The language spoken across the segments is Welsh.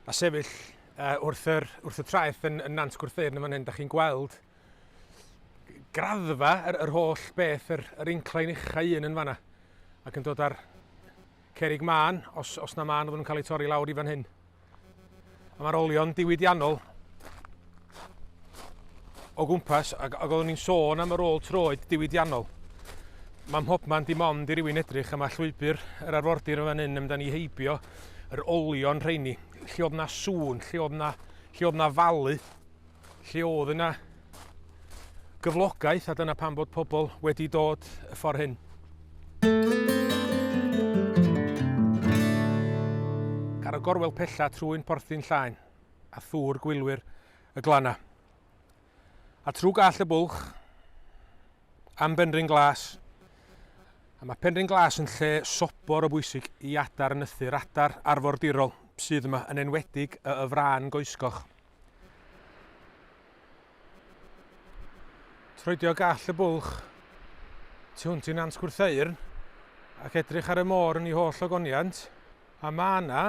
A sefyll uh, wrth, yr, wrth y traeth yn, yn Nant Gwrtheyrn yn fan hyn, da chi'n gweld graddfa yr, yr holl beth, yr, yr inclain uchau un yn fanna, ac yn dod ar cerig mân, os, os na mân oedd yn cael ei torri lawr i fan hyn. A mae'r olion diwydiannol o gwmpas ac, ac oeddwn i'n sôn am y rôl troed diwydiannol. Mae mhobman dim ond i rywun edrych am y llwybr yr arfordir yn fan hyn amdani ni heibio yr olion rheini. Lle oedd na sŵn, lle oedd na, lle oedd na falu, lle oedd yna gyflogaeth a dyna pan bod pobl wedi dod y ffordd hyn. Ar y gorwel pella trwy'n porthin llaen, a thŵr gwylwyr y glannau. A trwy gall y bwlch am Benrhyn Glas, a mae Penrhyn Glas yn lle sobor o bwysig i adar nythu'r adar arfordirol sydd yma, yn enwedig y y frân goesgoch. Troedio gall y bwlch tu hwnt i Nant Gwrtheyrn ac edrych ar y môr yn ei holl ogoniant, a mae yna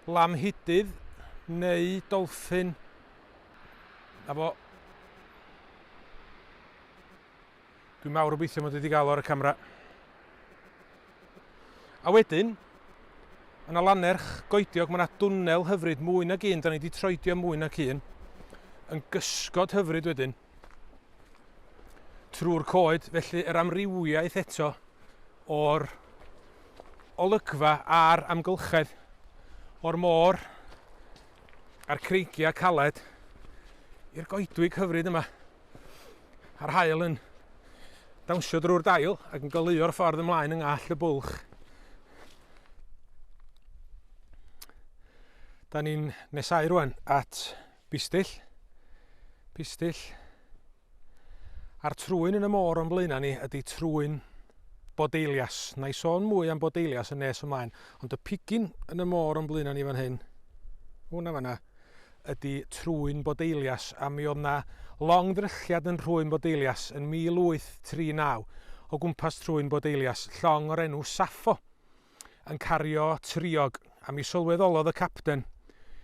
lamhidydd neu dolffin a fo Dwi'n mawr obeithio mod i wedi gael o ar y camera. A wedyn, yn y lannerch goediog mae yna dwnnel hyfryd mwy nag un, da ni wedi troedio mwy nag un, yn gysgod hyfryd wedyn trwy'r coed, felly yr amrywiaeth eto o'r olygfa a'r amgylchedd o'r môr a'r creigiau caled i'r goedwig hyfryd yma. a'r haul yn dawnsio drwy'r dail ac yn goleuo'r ffordd ymlaen yng ngall y bwlch. Da ni'n nesau rwan at bistill, pistill, a'r trwyn yn y môr o'n blaenau ni ydy trwyn bodeilias. Na i sôn mwy am bodeilias yn nes ymlaen, ond y pigyn yn y môr o'n blaenau ni fan hyn, hwnna fanna, ydi Trwyn Bodeilias a mi oedd 'na long ddrychiad yn Nhrwyn Bodeilias yn 1839 o gwmpas Trwyn Bodeilias, llong o'r enw Saffo, yn cario triog, a mi sylweddolodd y capten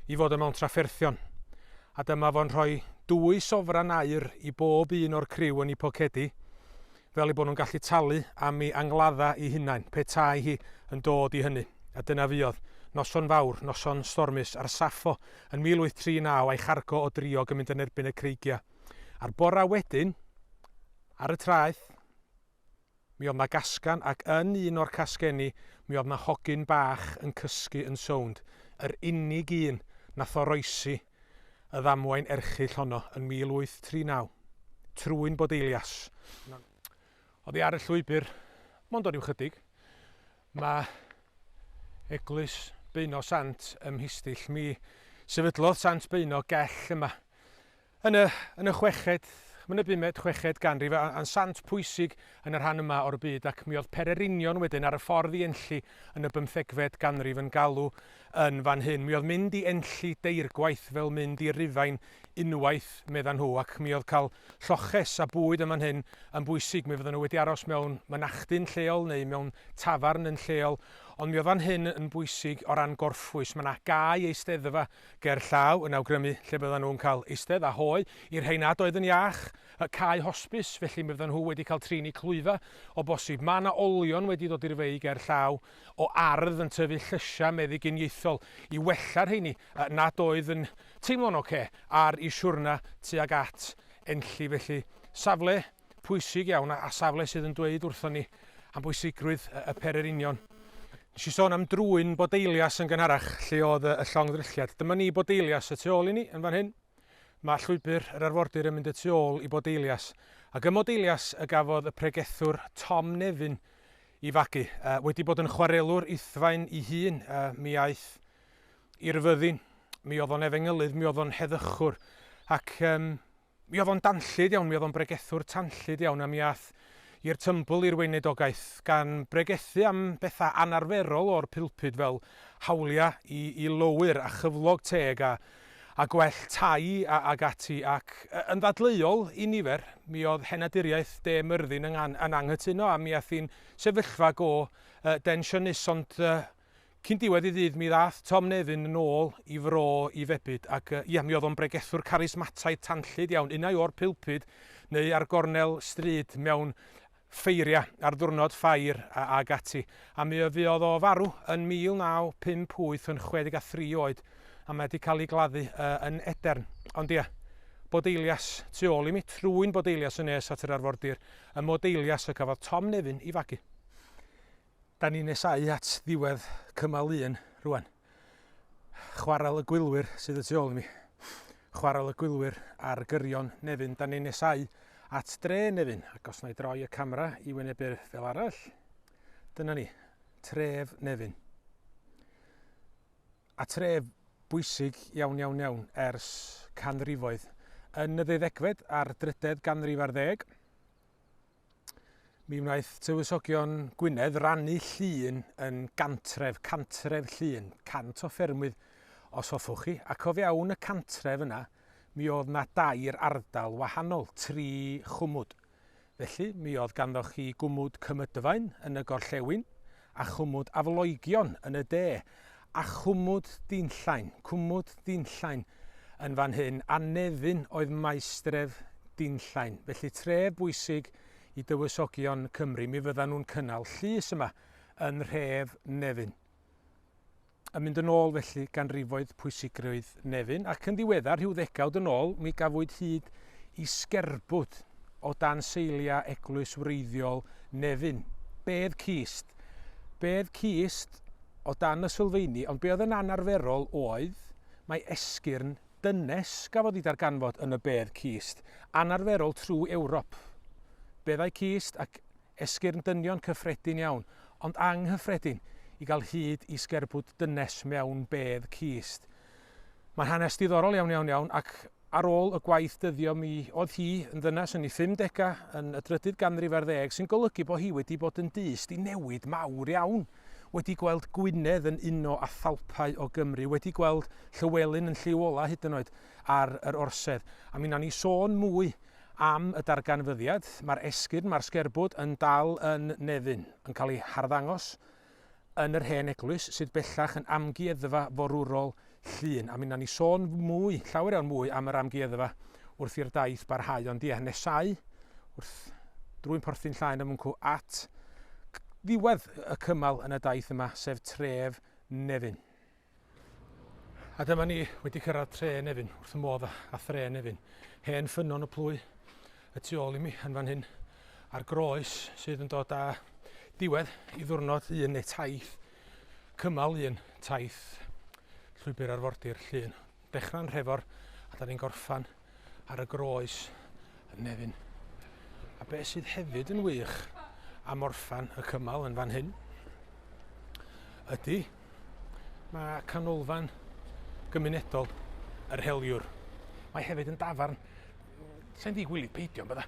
'i fod o mewn trafferthion, a dyma fo'n rhoi dwy sofran aur i bob un o'r criw yn 'u pocedi, fel eu bod nhw'n gallu talu am ei angladdau ei hunain, petai hi yn dod i hynny. A dyna fuodd. Noson fawr, noson stormus, a'r Saffo yn 1839 a'i chargo o driog yn mynd yn erbyn y creigiau. A'r bora wedyn, ar y traeth, mi oedd 'na gasgan, ac yn un o'r casgenni mi oedd 'na hogyn bach yn cysgu yn sownd, yr unig un nath oroesi y ddamwain erchyll honno yn 1839. Trwyn bod Elias yn oddi ar y llwybr, mond o ryw chydig, mae eglwys Beuno Sant ym Mhistyll. Mi sefydlodd Sant Beuno gell yma yn y, yn y chweched, yn y bumed, chweched ganrif, a'n sant pwysig yn y rhan yma o'r byd, ac mi oedd pererinion wedyn ar y ffordd i Enlli yn y bymthegfed ganrif yn galw Yn fan hyn, mi oedd mynd i Enlli deirgwaith fel mynd i Rufain unwaith, medda nhw, ac mi oedd cael lloches a bwyd yn fan hyn yn bwysig, mi fyddan nhw wedi aros mewn mynachdyn lleol neu mewn tafarn yn lleol, ond mi oedd fan hyn yn bwysig o ran gorffwys, mae 'na gae eisteddfa ger llaw yn awgrymu lle byddan nhw'n cael eistedd a hoe, i'r rhei nad oedd yn iach, y cae hosbis, felly mi fyddan nhw wedi cael trin eu clwyfau o bosib. Mae 'na olion wedi dod i'r fei ger llaw, o ardd yn tyfu'n llysiau meddyginiaethol i wella rheini nad oedd yn teimlo'n ocê ar eu siwrna tuag at Enlli. Felly, safle pwysig iawn a safle sydd yn dweud wrthon ni am bwysigrwydd y pererinion. Nes i sôn am drwyn Bodeilias yn gynharach, lle oedd y llong ddrylliad. Dyma ni Bodeilias y tu ôl i ni yn fan hyn. Mae llwybr yr arfordir yn mynd y tu ôl i Bodeilias, ac ym Modeilias y gafodd y pregethwr Tom Nevin i fagu. Wedi bod yn chwarelwr Uthfaen i hun, mi aeth i Ryfyddin, mi oedd o'n efengylydd, mi oedd o'n heddychwr, ac mi oedd o'n danllyd iawn, mi oedd o'n bregethwr tanllyd iawn, a mi aeth i'r tymbl i'r weinidogaeth, gan bregethu am bethau anarferol o'r pulpud fel hawliau i i lowyr a chyflog teg a a gwell tai a ag ati ac, yn ddadleuol i nifer, mi oedd henaduriaeth De Myrddin yn yn anghytuno a mi ath hi'n sefyllfa go densiynus ond Cyn diwedd y dydd mi ddaeth Tom Nevin yn ôl i Fro i febyd ac ia, mi oedd o'n bregethwr carismataidd tanllyd iawn, unai o'r pulpud neu ar gornel stryd mewn ffeiriau ar ddiwrnod ffair ag ati. A mi fuodd o farw yn 1958 yn 63 oed a mae 'di cael ei gladdu yn Edern. Ond ia, bod Eilias tu ôl i mi, trwy'n bod Eilias yn nes at yr arfordir, y mod Eilias y cafodd Tom Nevin i fagu. Da ni'n nesáu at ddiwedd cymal un rwan. Chwarel y Gwylwyr sydd y tu ôl i mi. Chwarel y Gwylwyr ar gyrion Nefyn. Da ni'n nesáu at dre Nefyn ac os na i droi y camera i wynebu'r fel arall. Dyna ni, tref Nefyn. A tref bwysig iawn iawn iawn ers canrifoedd. Yn y ddeuddegfed a'r drydedd ganrif ar ddeg, Mi wnaeth Tywysogion Gwynedd rannu llun yn gantref, cantref llun, cant o ffermwydd os hoffwch chi, ac o fewn y cantref yna mi oedd na dair ardal wahanol, tri chwmwd. Felly mi oedd ganddoch chi gwmwd Cymydfaen yn y gorllewin, a chwmwd aflogion yn y de, a chwmwd dinllain, cwmwd dinllain yn fan hyn, a Nefyn oedd maestref dinllain. Felly tref bwysig i dywysogion Cymru, mi fyddan nhw'n cynnal llys yma yn nhref Nefyn. Yn mynd yn ôl felly ganrifoedd pwysigrwydd Nefyn, ac yn ddiweddar, rhyw ddegawd yn ôl, mi gafwyd hyd i sgerbwd o dan seiliau eglwys wreiddiol Nefyn. Bedd cist. Bedd cist o dan y sylfeini, ond be oedd yn anarferol oedd mai esgyrn dynes gafodd ei darganfod yn y bedd cist, anarferol trwy Ewrop. Beddau cist ac Esgyrn dynion cyffredin iawn, ond anghyffredin i gael hyd i sgerbwd dynes mewn bedd cist. Mae'n hanes diddorol iawn iawn iawn ac ar ôl y gwaith dyddio mi oedd hi yn ddynes yn ei 50 yn y drydydd ganrif ar ddeg sy'n golygu bod hi wedi bod yn dyst i newid mawr iawn, wedi gweld Gwynedd yn uno â thalpau o Gymru, wedi gweld Llywelyn yn lliw ola hyd yn oed ar yr Orsedd a mi wnawn ni sôn mwy Am y darganfyddiad, mae'r esgyrn, mae'r sgerbwd yn dal yn Nefyn, yn cael ei harddangos yn yr hen eglwys sydd bellach yn amgueddfa forwrol Llŷn, a mi wnawn ni sôn mwy, llawer iawn mwy am yr amgueddfa wrth i'r daith barhau, ond ie, nesau wrth drwy'n porthin llaen a mwncw at ddiwedd y cymal yn y daith yma, sef tref Nefyn. A dyma ni wedi cyrraedd tre Nefyn, wrth y modd a thre Nefyn. Hen ffynnon y plwy y tu ôl i mi yn fan hyn, a'r groes sydd yn dod â diwedd i ddwrnod un neu taith, cymal un taith llwybr arfordir llun. Dechrau'n Nhrefor a da ni'n gorffan ar y groes yn Nefyn. A beth sydd hefyd yn wych am orffan y cymal yn fan hyn ydy mae canolfan gymunedol yr heliwr. Mae hefyd yn dafarn sy'n ddi gwylio peidio yn bydda.